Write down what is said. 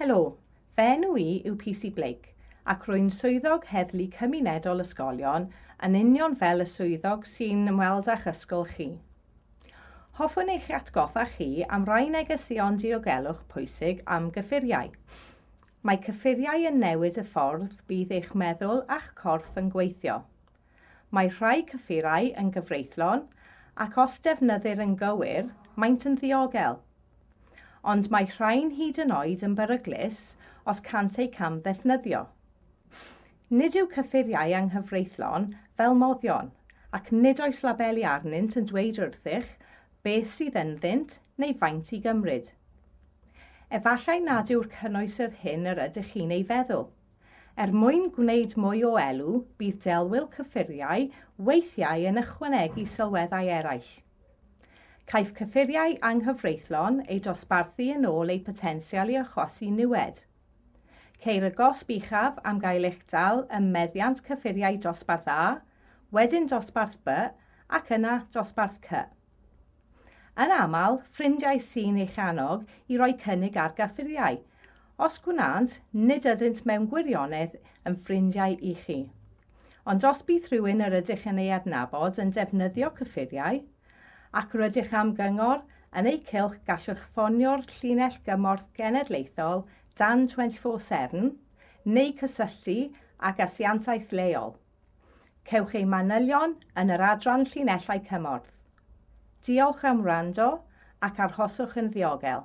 Helo, fy enw i yw PC Blake ac rwy'n Swyddog Heddlu Cymunedol Ysgolion yn union fel y swyddog sy'n ymweld â'ch ysgol chi. Hoffwn eich atgoffa chi am rai negeseuon diogelwch pwysig am gyffuriau. Mae cyffuriau yn newid y ffordd bydd eich meddwl a'ch corff yn gweithio. Mae rhai cyffurau yn gyfreithlon ac os defnyddir yn gywir, maent yn ddiogel. Ond mae rhain hyd yn oed yn beryglus os cânt eu cam-ddefnyddio. Nid yw cyffuriau anghyfreithlon fel moddion ac nid oes labeli arnynt yn dweud wrthych beth sydd ynddynt neu faint i gymryd. Efallai nad yw'r cynnwys yr hyn yr ydych chi'n ei feddwl. Er mwyn gwneud mwy o elw, bydd delwyl cyffuriau weithiau yn ychwanegu sylweddau eraill. Caiff cyffuriau anghyfreithlon eu dosbarthu yn ôl eu potensial i achosi niwed. Ceir y gosb uchaf am gael eich dal ym meddiant cyffuriau dosbarth A, wedyn dosbarth B ac yna dosbarth C. Yn aml, ffrindiau sy'n eich annog i roi cynnig ar gyffuriau. Os gwnânt, nid ydynt mewn gwirionedd yn ffrindiau i chi. Ond os bydd rhywun yr ydych yn ei adnabod yn defnyddio cyffuriau, ac rydych am gyngor yn eu cylch gallwch ffonio'r Llinell Gymorth Genedlaethol dan 24 Sefn neu cysylltu ag asiantaeth leol. Cewch eu manylion yn yr adran Llinellau Cymorth. Diolch am wrando ac arhoswch yn ddiogel.